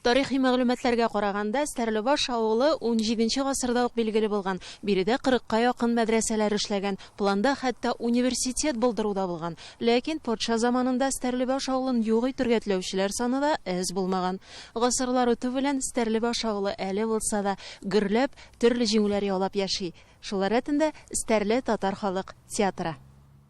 Тарихи мәгълүматларга караганда, Стәрлебаш авылы унҗиденче гасырда ук билгеле булган, биредә кырыкка якын мәдрәсәләр эшләгән, планда хәтта университет булдыру да булган. Ләкин патша заманында Стәрлебаш авылын юк итергә теләүчеләр саны да әз булмаган. Гасырлар үтү белән Стәрлебаш авылы әле булса да гөрләп, төрле җиңүләр яулап яши. Шулар рәтендә Стәрле татар халык театры.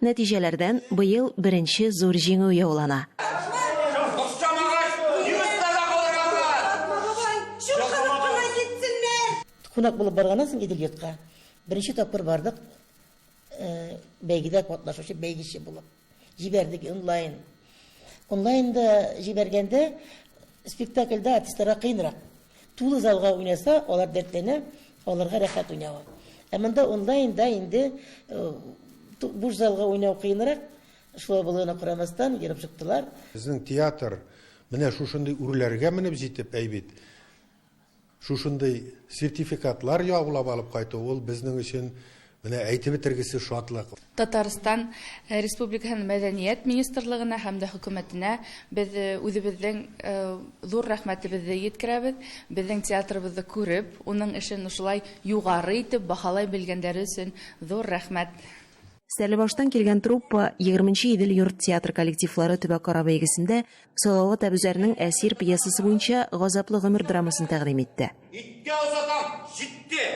Нәтиҗәләрдән быел беренче зур җиңү яулана. Кунак булып барганнан соң Идел йортка беренче тапкыр бардык бәйгедә катнашучы бәйгече булып. Җибәрдек онлайн. Онлайнда җибәргәндә спектакльдә артистларга кыенрак. Тулы залга уйнаса, алар дәртләнә, аларга рәхәт уйнавы. Ә монда онлайнда инде буш залга уйнау кыенрак, шулай булуына карамастан, йөреп чыктылар. Безнең театр менә шушындый үрләргә менеп җитеп, әй бит, шушындый сертификатлар яулап алып кайту, ул безнең өчен Менә әйтеп бетергесез шатлык! Татарстан Республикаһының Мәдәният министрлыгына һәм дә хөкүмәтенә без үзебезнең зур рәхмәтебезне йиткерәбез, безнең театрыбызны күреп, уның эшен шулай югары итеп баһалай белгәннәре өчен зур рәхмәт! Стәрлебаштан килгән труппа, егерменче Идел йорт театры коллективлары төбәкара бәйгесендә Салават Әбүзәрнең Әсир пьесасы буенча Газаплы гомер драмасын тәкъдим итте. Иткә озатам, җитте!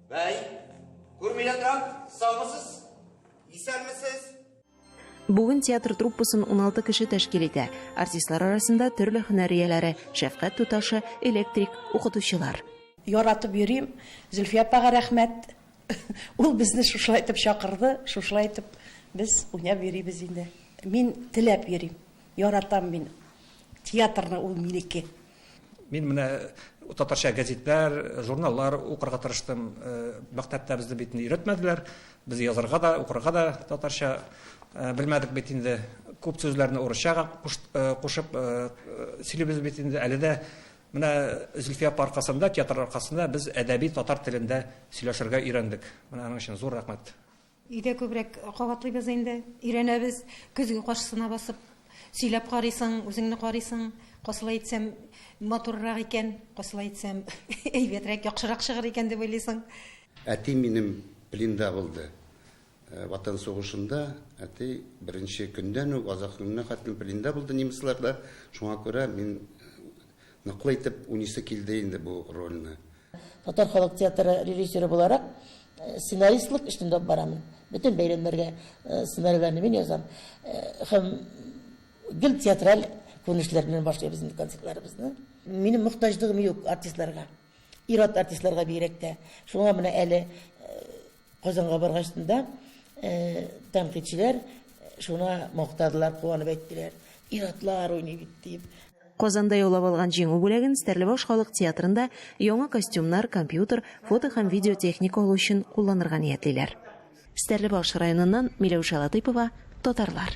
Бәй, күрмилә торам, саумысыз, исәнмесез. Бүген театр труппасын 16 кеше тәшкил итә. Артистлар арасында төрле һөнәр ияләре, шәфкать туташы, электрик, укытучылар. Яратып йөрим. Зөлфия апага рәхмәт. Ул безне шушылай итеп чакырды, шушылай итеп без уйнап йөрибез инде. Мин теләп йөрим. Яратам мин театрны, ул минеке. Мин менә татарча газетләр, журналлар укырга тырыштым. Мәктәптә безне бит инде өйрәтмәделәр. Без язарга да, укырга да татарча белмәдек бит инде. Күп сүзләрне урысчага кушып сөйлибез бит инде. Әле дә менә Зөлфия апа аркасында, театр аркасында без әдәби татар телендә сөйләшергә өйрәндек. Менә аның өчен зур рәхмәт. Өйдә күбрәк кабатлыйбыз инде, өйрәнәбез. Көзге каршысына басып, сөйләп карыйсың, үзеңне карыйсың. Косылай итсәм, матуррак икән, косылай итсәм, әйбәтрәк, яхшырак чыгыр икән дип уйлыйсың. Әти минем пленда булды. Ватан сугышында әти беренче көндән үк, азаккы көненә хәтлем пленда булды немецларда. Шуңа күрә мин ныклы итеп уйныйсы килде инде бу рольне. Татар халык театры режиссеры буларак, сценаристлык эшне дә алып барамын. Бөтен бәйрәмнәргә сценарийларны мин язам. Һәм гел театраль күренешләр белән башлыйбыз инде концертларыбызны. Минем мохтаҗлыгым юк артистларга. Ир-ат артистларга бигрәк тә. Шуңа менә әле Казанга баргач та, тәнкыйтьчеләр шуны мактадылар, куанып әйттеләр. Ир-атлар уйный бит, дип. Казанда яулап алган җиңү бүләген Стәрлебаш халык театрында яңа костюмнар, компьютер, фото һәм видео техника алу өчен кулланырга ниятлиләр. Стәрлебаш районыннан Миләүшә Латыйпова, Татарлар.